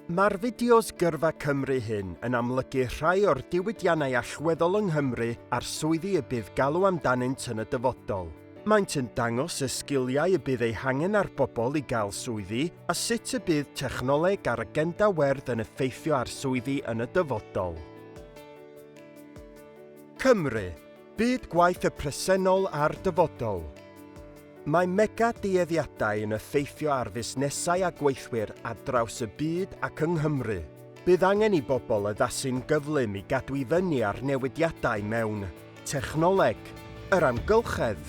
Mae'r fideos Gyrfa Cymru hyn yn amlygu rhai o'r diwydiannau allweddol yng Nghymru a'r swyddi y bydd galw amdanynt yn y dyfodol. Maent yn dangos y sgiliau y bydd eu hangen ar bobl i gael swyddi a sut y bydd technoleg a'r agenda werdd yn effeithio ar swyddi yn y dyfodol. Cymru, Byd gwaith y presennol a'r dyfodol. Mae mega dueddiadau yn effeithio ar fusnesau a gweithwyr ar draws y byd ac yng Nghymru. Bydd angen i bobl addasu'n gyflym i gadw i fyny â'r newidiadau mewn technoleg, yr amgylchedd,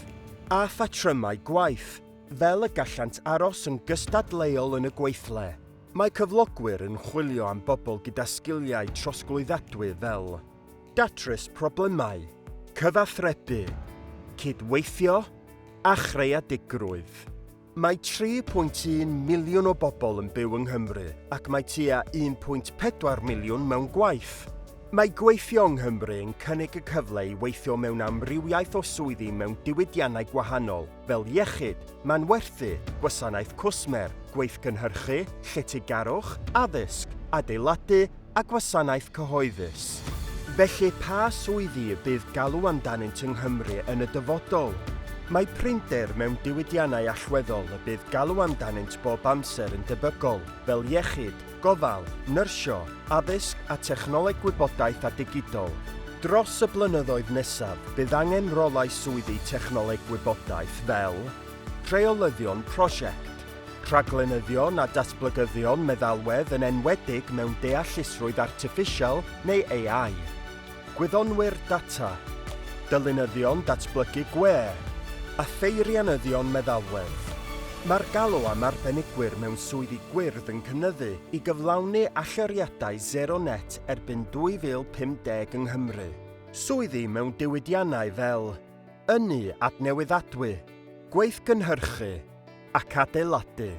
a phatrymau gwaith, fel y gallant aros yn gystadleuol yn y gweithle. Mae cyflogwyr yn chwilio am bobl gyda sgiliau trosglwyddadwy fel. datrys problemau, cyfathrebu, cydweithio a chreadigrwydd. Mae 3.1 miliwn o bobl yn byw yng Nghymru ac mae tua 1.4 miliwn mewn gwaith. Mae gweithio yng Nghymru yn cynnig y cyfle i weithio mewn amrywiaeth o swyddi mewn diwydiannau gwahanol, fel iechyd, manwerthu, gwasanaeth cwsmer, gweithgynhyrchu, lletygarwch, addysg, adeiladu a gwasanaeth cyhoeddus. Felly, pa swyddi y bydd galw amdanynt yng Nghymru yn y dyfodol? Mae prinder mewn diwydiannau allweddol y bydd galw amdanynt bob amser yn debygol, fel iechyd, gofal, nyrsio, addysg a technoleg gwybodaeth a digidol. Dros y blynyddoedd nesaf, bydd angen rolau swyddi technoleg gwybodaeth fel, Rheolyddion Prosiect, Rhaglenyddion a Datblygyddion Meddalwedd yn enwedig mewn Deallusrwydd Artiffisial neu AI. Gwyddonwyr data, dylunyddion datblygu gwe a pheirianyddion meddalwedd. Mae'r galw am arbenigwyr mewn swyddi gwyrdd yn cynyddu i gyflawni allyriadau sero net erbyn 2050 yng Nghymru. Swyddi mewn diwydiannau fel ynni adnewyddadwy, gweithgynhyrchu ac adeiladu.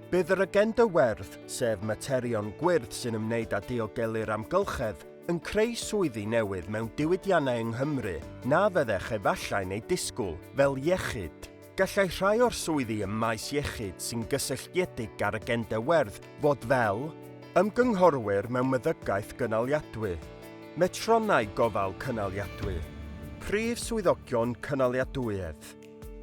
Bydd yr agenda werdd, sef materion gwyrdd sy'n ymwneud â diogelu'r amgylchedd, yn creu swyddi newydd mewn diwydiannau yng Nghymru na fyddech efallai'n eu disgwyl, fel iechyd. Gallai rhai o'r swyddi ym maes iechyd sy'n gysylltiedig â'r agenda werdd fod fel, ymgynghorwyr mewn meddygaeth gynaliadwy, metronnau gofal cynaliadwy, prif swyddogion cynaliadwyedd,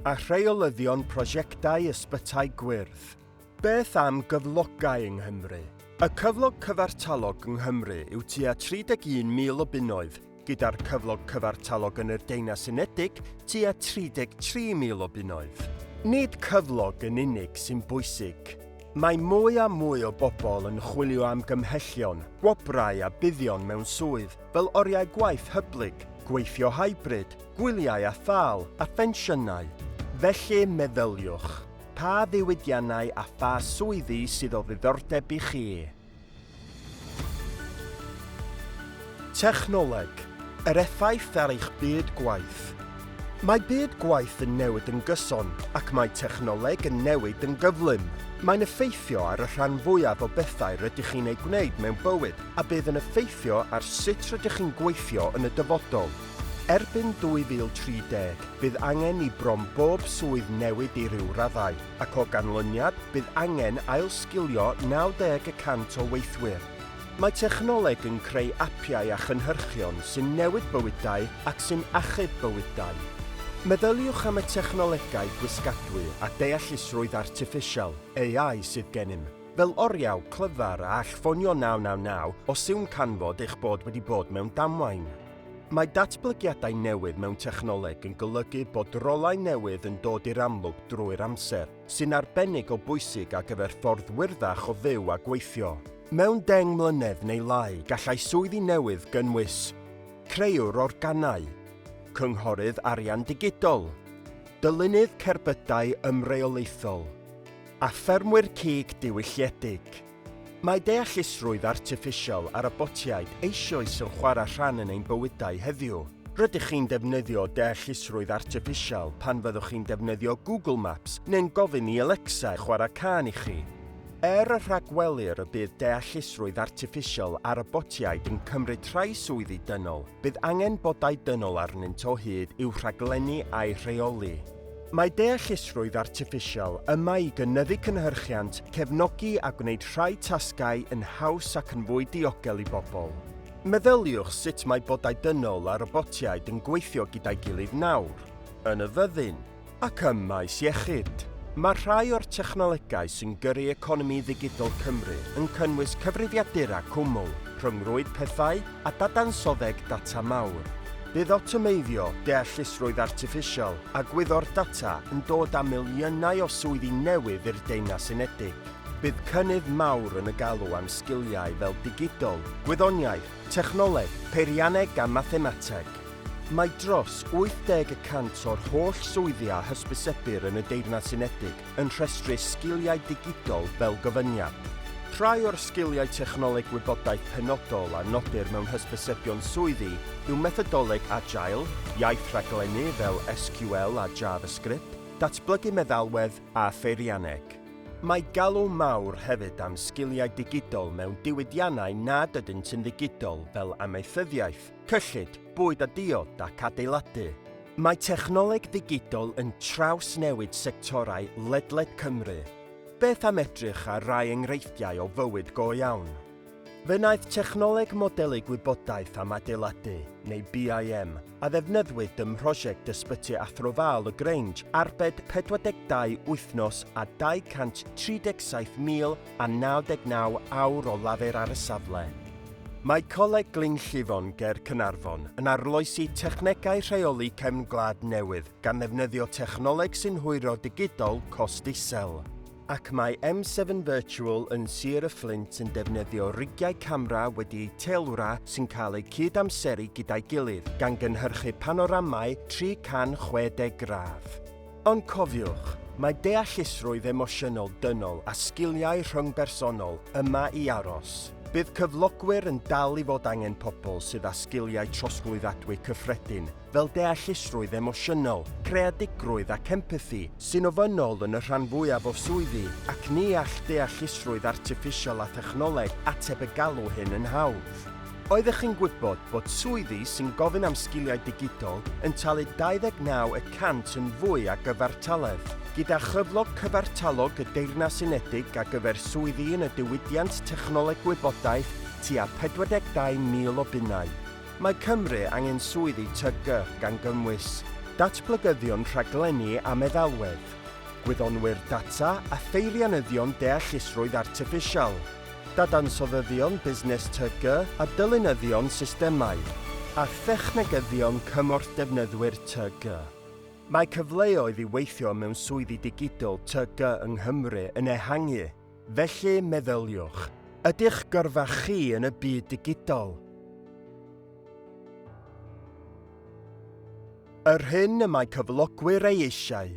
a rheolyddion prosiectau ysbytai gwyrdd. Beth am gyflogau yng Nghymru? Y cyflog cyfartalog yng Nghymru yw tua 31,000 o bunnoedd, gyda'r cyflog cyfartalog yn yr Deunas Unedig tua 33,000 o bunnoedd. Nid cyflog yn unig sy'n bwysig. Mae mwy a mwy o bobl yn chwilio am gymhellion, gwobrau a buddion mewn swydd fel oriau gwaith hyblyg, gweithio hybrid, gwyliau a thâl, a phensiynau. Felly, meddyliwch. Pa ddiwydiannau a pha swyddi sydd o ddiddordeb i chi? Technoleg, yr effaith ar eich byd gwaith. Mae byd gwaith yn newid yn gyson, ac mae technoleg yn newid yn gyflym. Mae'n effeithio ar y rhan fwyaf o bethau rydych chi'n eu gwneud mewn bywyd a bydd yn effeithio ar sut rydych chi'n gweithio yn y dyfodol. Erbyn 2030, bydd angen i bron bob swydd newid i ryw raddau, ac o ganlyniad, bydd angen ailsgilio 90 y cant o weithwyr. Mae technoleg yn creu apiau a chynhyrchion sy'n newid bywydau ac sy'n achub bywydau. Meddyliwch am y technolegau gwisgadwy a deallusrwydd artiffisial, AI, sydd gennym, fel oriau clyfar a all ffonio 999 os yw'n canfod eich bod wedi bod mewn damwain. Mae datblygiadau newydd mewn technoleg yn golygu bod rolau newydd yn dod i'r amlwg drwy'r amser, sy'n arbennig o bwysig ar gyfer ffordd wyrddach o fyw a gweithio. Mewn deng mlynedd neu lai gallai swyddi newydd gynnwys, creuwr organau, cynghorydd arian digidol, dylunydd cerbydau ymreolaethol, a ffermwyr cig diwylliedig. Mae deallusrwydd artiffisial a robotiaid eisioes yn chwarae rhan yn ein bywydau heddiw. Rydych chi'n defnyddio deallusrwydd artiffisial pan fyddwch chi'n defnyddio Google Maps neu'n gofyn i Alexa chwarae cân i chi. Er y rhagwelir y bydd deallusrwydd artiffisial a robotiaid yn cymryd rhai swyddi dynol, bydd angen bodau dynol arnynt o hyd i'w rhaglennu a'u rheoli. Mae deallusrwydd artiffisial yma i gynyddu cynhyrchiant, cefnogi a gwneud rhai tasgau yn haws ac yn fwy diogel i bobl. Meddyliwch sut mae bodau dynol a robotiaid yn gweithio gyda'i gilydd nawr, yn y fyddin, ac ym maes iechyd. Mae rhai o'r technolegau sy'n gyrru economi ddigidol Cymru yn cynnwys cyfrifiadura cwmwl, rhyngrwyd pethau, a dadansoddeg data mawr. Bydd awtomeiddio, deallusrwydd artiffisial a gwyddor data yn dod â miliynau o swyddi newydd i'r Deyrnas Unedig. Bydd cynnydd mawr yn y galw am sgiliau fel digidol, gwyddoniaeth, technoleg, peirianneg a mathemateg. Mae dros 80 y cant o'r holl swyddi a hysbysebir yn y Deyrnas Unedig yn rhestru sgiliau digidol fel gofyniad. Rhai o'r sgiliau technoleg gwybodaeth penodol a nodir mewn hysbysebion swyddi yw methodoleg Agile, iaith rhaglennu fel SQL a JavaScript, datblygu meddalwedd a pheirianneg. Mae galw mawr hefyd am sgiliau digidol mewn diwydiannau nad ydynt yn ddigidol fel amaethyddiaeth, cyllid, bwyd a diod ac adeiladu. Mae technoleg ddigidol yn trawsnewid sectorau ledled Cymru. Beth am edrych ar rai enghreifftiau o fywyd go iawn? Fe wnaeth technoleg modelu gwybodaeth am adeiladu, neu BIM, a ddefnyddwyd ym mhrosiect Ysbyty Athro Val y Grange arbed 42 wythnos a 237,000 a 99 awr o lafur ar y safle. Mae Coleg Glyn Llifon ger Caernarfon yn arloesi technegau rheoli cefn gwlad newydd gan ddefnyddio technoleg sy'n hwyro digidol cost isel. Ac mae M7 Virtual yn Sir y Fflint yn defnyddio rigiau camera wedi eu teilwra sy'n cael eu cyd-amseru gyda'i gilydd, gan gynhyrchu panoramau 360 gradd. Ond cofiwch, mae deallusrwydd emosiynol dynol a sgiliau rhyngbersonol yma i aros. Bydd cyflogwyr yn dal i fod angen pobl sydd â sgiliau trosglwyddadwy cyffredin, fel deallusrwydd emosiynol, creadigrwydd ac empathi, sy'n ofynnol yn y rhan fwyaf o swyddi, ac ni all deallusrwydd artiffisial a thechnoleg ateb y galw hyn yn hawdd. Oeddech chi'n gwybod bod swyddi sy'n gofyn am sgiliau digidol yn talu 29 y cant yn fwy a gyfartaledd, gyda chyflog cyfartalog y Deyrnas Unedig ar gyfer swyddi yn y diwydiant technoleg gwybodaeth tua 42,000 o bunnau? Mae Cymru angen swyddi TG, gan gynnwys datblygyddion rhaglenni a meddalwedd, gwyddonwyr data a pheirianyddion deallusrwydd artiffisial. dadansoddyddion busnes TG a dylunyddion systemau a thechnegyddion cymorth defnyddwyr TG. Mae cyfleoedd i weithio mewn swyddi digidol TG yng Nghymru yn ehangu, felly meddyliwch, Ydych gyrfa chi yn y byd digidol? Yr hyn y mae cyflogwyr ei eisiau.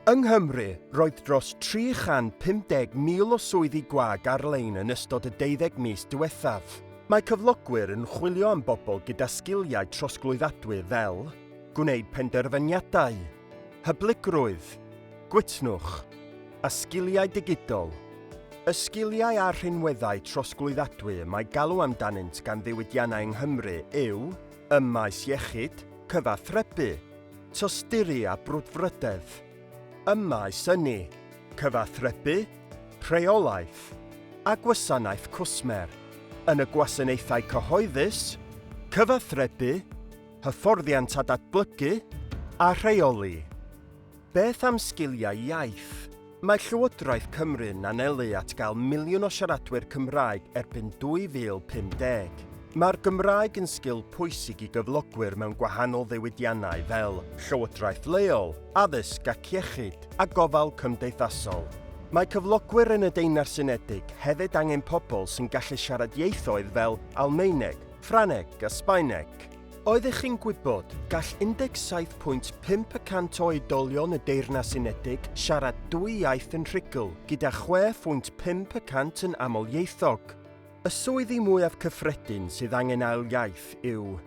Yng Nghymru, roedd dros 350,000 o swyddi gwag ar-lein yn ystod y deuddeg mis diwethaf. Mae cyflogwyr yn chwilio am bobl gyda sgiliau trosglwyddadwy fel, gwneud penderfyniadau, hyblygrwydd, gwytnwch, a sgiliau digidol. Y sgiliau a'r rhinweddau trosglwyddadwy y mae galw amdanynt gan ddiwydiannau yng Nghymru yw ym maes iechyd, cyfathrebu, tosturi a brwdfrydedd, ym maes ynni, cyfathrebu, rheolaeth a gwasanaeth cwsmer, yn y gwasanaethau cyhoeddus, cyfathrebu, hyfforddiant a datblygu a rheoli. Beth am sgiliau iaith? Mae Llywodraeth Cymru'n anelu at gael miliwn o siaradwyr Cymraeg erbyn 2050. Mae'r Gymraeg yn sgil pwysig i gyflogwyr mewn gwahanol ddiwydiannau fel llywodraeth leol, addysg ac iechyd, a gofal cymdeithasol. Mae cyflogwyr yn y Deyrnas Unedig hefyd angen pobl sy'n gallu siarad ieithoedd fel Almaeneg, Ffrangeg a Sbaeneg. Oeddech chi'n gwybod, gall 17.5 y cant o oedolion y Deyrnas Unedig siarad dwy iaith yn rhugl, gyda 6.5 y cant yn amlieithog. Y swyddi mwyaf cyffredin sydd angen ail iaith yw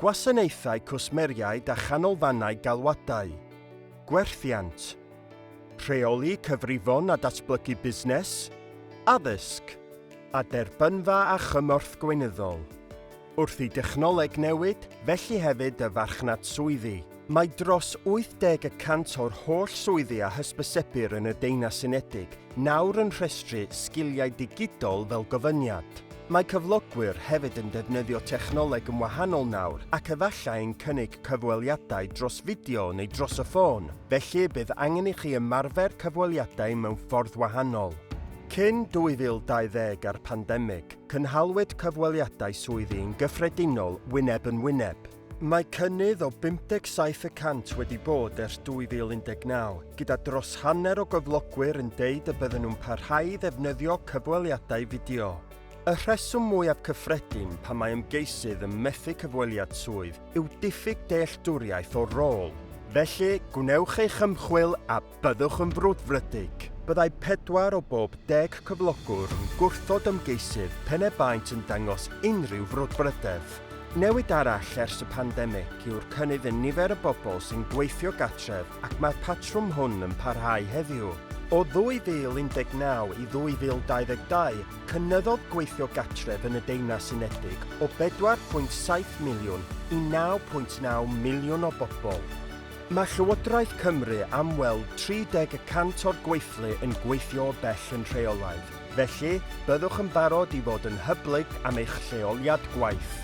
Gwasanaethau Cwsmeriaid a Chanolfannau Galwadau, Gwerthiant, Rheoli Cyfrifon a Datblygu Busnes, Addysg, a Derbynfa a Chymorth Gweinyddol. Wrth i dechnoleg newid, felly hefyd y farchnad swyddi. Mae dros 80 y cant o'r holl swyddi a hysbysebir yn y Deunas Unedig nawr yn rhestru sgiliau digidol fel gofyniad. Mae cyflogwyr hefyd yn defnyddio technoleg yn wahanol nawr ac efallai'n cynnig cyfweliadau dros fideo neu dros y ffôn, felly y bydd angen i chi ymarfer cyfweliadau mewn ffordd wahanol. Cyn 2020 a'r pandemig, Cynhaliwyd cyfweliadau swyddi yn gyffredinol wyneb yn wyneb. Mae cynnydd o 57 y cant wedi bod ers 2019, gyda dros hanner o gyflogwyr yn deud y bydden nhw'n parhau i ddefnyddio cyfweliadau fideo. Y rheswm mwyaf cyffredin pan mae ymgeisydd yn methu cyfweliad swydd yw diffyg dealltwriaeth o'r rôl. Felly, gwnewch eich ymchwil a Byddwch yn frwdfrydig. Byddai pedwar o bob deg cyflogwr yn gwrthod ymgeisydd pen e baent yn dangos unrhyw frwdfrydedd. Newid arall ers y pandemig yw'r cynnydd yn nifer y bobl sy'n gweithio gartref ac mae'r patrwm hwn yn parhau heddiw. O 2019 i 2022, cynyddodd gweithio gartref yn y Deyrnas Unedig o 4.7 miliwn i 9.9 miliwn o bobl. Mae Llywodraeth Cymru am weld 30 y cant o'r gweithlu yn gweithio o bell yn rheolaidd, felly byddwch yn barod i fod yn hyblyg am eich lleoliad gwaith.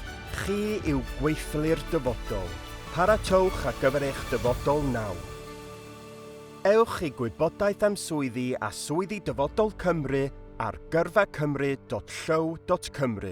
Chi yw gweithlu'r dyfodol. Paratowch ar gyfer eich dyfodol nawr. Ewch i gwybodaeth am swyddi a swyddi Dyfodol Cymru ar gyrfacymru.llyw.cymru.